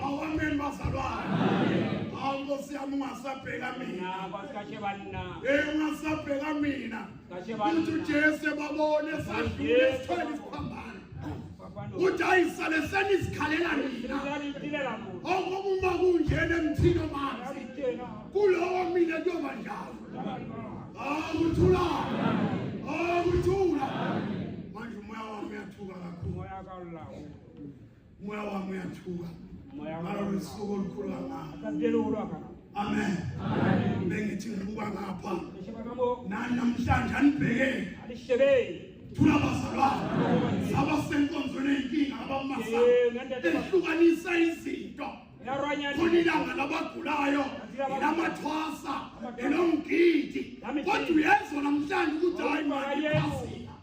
Amen bazalwane. Hawu Nkosi yami ungasabheka mina. Kwasikashe banina. Eh ungasabheka mina. Kashe banina. Uthi uJesu babone sadlule sithwele isiphambano. Uthi ayisale senizikhalela mina. Ongoba oh, uma kunjena emthini omanzi. Kulowo mina kuyoba njalo. Hawu uthula. Hawu uthula. Manje umoya wami uyathuka kakhulu. Umoya kawu lawo. Moya wami uyathuka. Moya wami usuku olukhulu kangaka. Akazidela ukulwaka. Amen. Amen. Bengithi ngibuka ngapha. Namhlanje anibhekeni. Alishebeni. Thula bazalwane. Saba senkonzweni eyinkinga abamasa. Ehlukanisa izinto. Khona ilanga labagulayo. Lamathwasa. Elomgidi. Kodwa uyezwa namhlanje ukuthi hayi manje.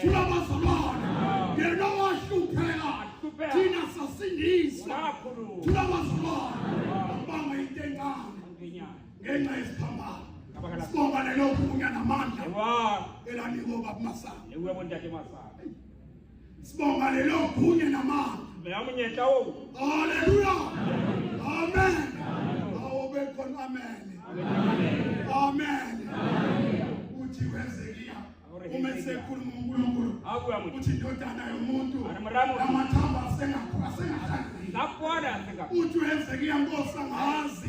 Tulabazalwane yena owahlupheka thina sasindiswa. Tulabazalwane abanga into encane ngenxa yesiphambano. Sibonga lelo gunya namandla elanikwa baba Masanga. Ekuwe ntate Masanga. Sibonga lelo gunya namandla. Meyamunyetla wo. Hallelujah. Amen. Awobe khona amen. Amen. Amen. Uthi wenzekile. uma esekhuluma uNkulunkulu uthi indodana yomuntu amathambo asengahlanginakuona uthi uhezekiya nkosi angazi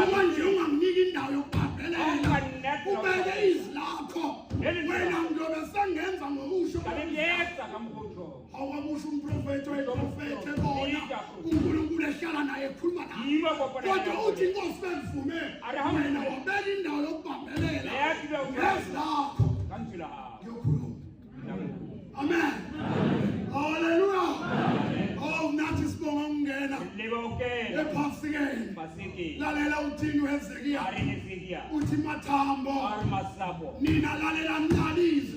uma nje ungamnika indawo yokubhabhelela ubeke izwi lakho wena ngiyobe sengenza ngokusho awakusho umprofethi wayeprofethe bona unkulunkulu ehlala naye ekhuluma naye kodwa uthi inkosi bengivume wena wabeka indawo yokubambelela ngezi lakho ngiyokhuluma amen haleluya oh nathi sibonga ukungena ephasikeni lalela uthini wezekiya uthi mathambo nina lalela nqalize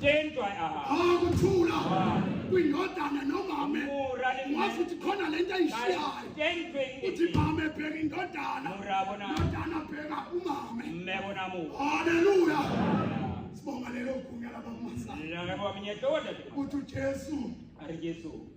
Tendwa aha. Akuthula. Kwindodana nomame. Wazi ukuthi khona lento ayishiyayo. Uthi mama ebheka indodana. Indodana bheka umame. Mmebona mu. Haleluya. Sibonga lelo gunya labakumasayo. Labo minye doda. Uthi uJesu. Ari Jesu.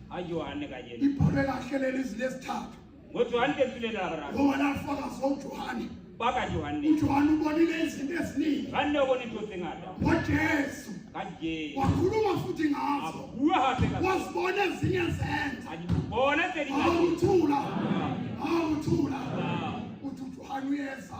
Hayi Johane kanye. Ibhore kahle leli zilesithathu. NgoJohane befilela Abraham. Ngoba lafaka soJohane. Baka Johane. UJohane ubonile izinto eziningi. Vanne ubona into zingada. NgoJesu. Kanje. Wakhuluma futhi ngazo. Abuya hathe ngazo. Wasibona ezinye zenza. Ayibona seli ngazo. Awuthula. Awuthula. Uthi uJohane uyeza.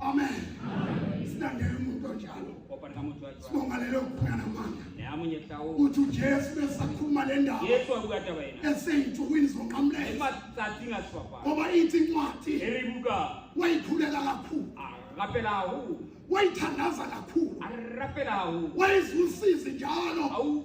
amen silandela umuntu onjalo sibonga lelo kuphela namandla uthi ujesu besakhuluma le ndaba eseyinsukwini zonqamleza ngoba ithi incwadi wayikhuleka kakhulu wayithandaza kakhulu wayizwisisi njalo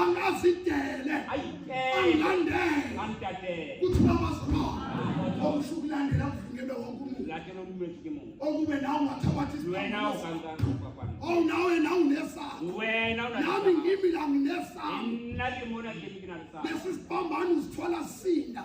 angazidele angilandele kuthiwa amazikhona okusho ukulandela kuvunyelwe wonke umuntu okube nawe ungathabathi ow nawe nawe unesakho nami ngimi la nginesakho lesi sibambane uzithwala sinda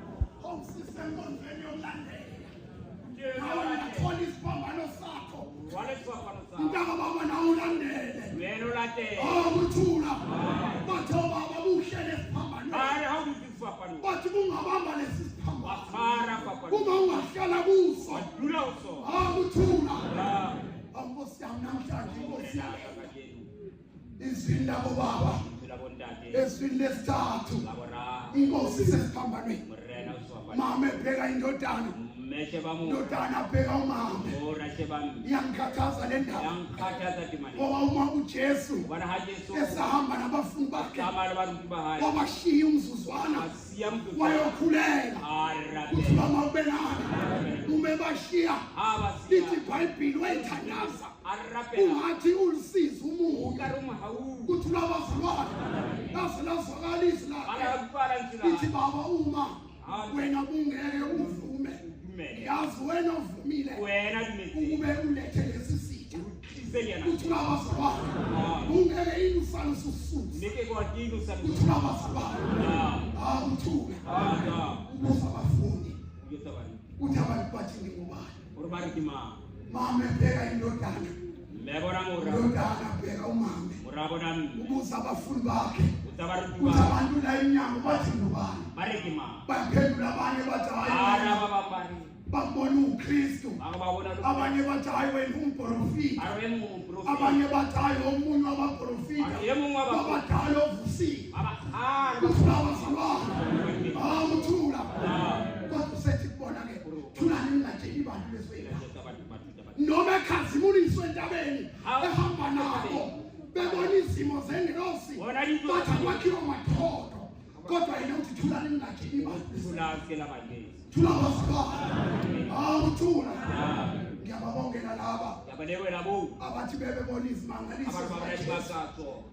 awusisenkonzweni yokulandela awungathola isiphambano sakho mntaka baba nawe ulandele awukuthula bathe ubaba buhle lesiphambano bathi kungabamba lesi siphambano uma ungahlala kuso awukuthula awunkosi yami namhlanje inkosi yami izwini labobaba ezwini lesithathu inkosi isesiphambanweni mama ebheka indodana meshe ba mona ndodana bheka umama o rashe ba mina iyangikhathaza le ndaba yangikhathaza dimane ngoba uma uJesu ubana ha Jesu esahamba nabafundi bakhe kama abantu bahayi wabashiya umzuzwana asiya mntu wayokhuleka kuthiwa mawubenani umebashiya lithi ibhayibhili wayithandaza ungathi ulisiza umuntu ukuthi ulabazalwane laze lazwakala izwi lakhe ithi baba uma wena bungeke uvume yazi wena uvumile ukube ulethe lesi sitha ukuthi ulabazalwane bungeke yini usale usususa ukuthi ulabazalwane awuthuke ubuza abafundi ukuthi abantu bathi ngingubani Urbariki ma. Mame bheka indodana. Lebona ngora. Indodana bheka umame. Urabona. Ubuza abafundi bakhe. Utabariki ma. Abantu la inyanga bathi ngubani. Bariki ma. Baphendula abanye bathi hayi. Ara baba bari. Babona uKristu. Abanye bathi hayi wena umprofita. Abanye bathi hayi omunye wabaprofita. Abadala ovusile. Abadala. Uthula. Uthula. thulani ningatsheli bantu bezwela noma ekhazimuliswe entabeni ehamba nabo bebona izimo zengilosi bathi kwakhiwa mathodo kodwa yena uthi thula ningathi ibathula awuthula ngiyababongela laba abathi bebebona izimangaliso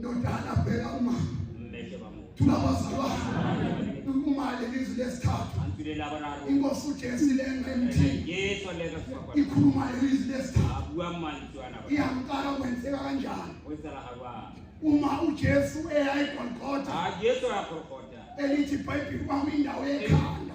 nodala bheka uma tulabazalwane ukumale lizwi lesithathu inkosi ujesu ilenga emthini ikhuluma lelizwi lesithathu iyamqala kwenzeka kanjani uma ujesu eya egolgotha elithi ibhayibhili kwami indawo yekhanda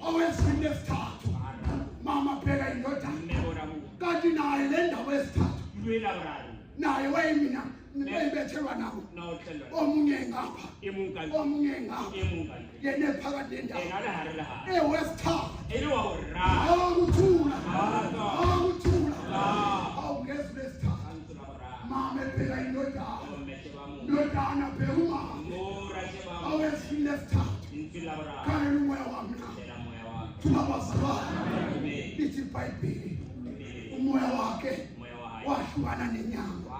owesini lesithathu mama bheka indodana kanti naye le ndawo esithathu naye wayimina nibeyibethelwa nawo omunye ngapha omunye ngapha yena ephakathi nendawo ewesithathu awukuthula awukuthula awungezwi lesithathu mama ebheka indodana ndodana bhekuma awezini lesithathu khangela umoya wami na thuma bazalwane lithi ibhayibheli umoya wakhe wahlukana nenyanga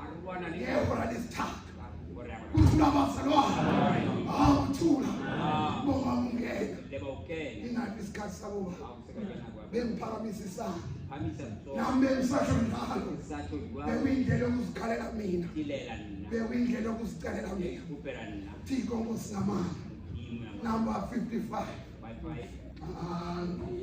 ngehora lesithathu kuthula bazalwane awuthula boma ungena ingathi isikhathi sakuba bengiphakamisa isandla nami bengisasho njalo bekuyindlela yokuzikhalela mina bekuyindlela yokuzicelela mina thiko ngosingamandla number 55 Amen.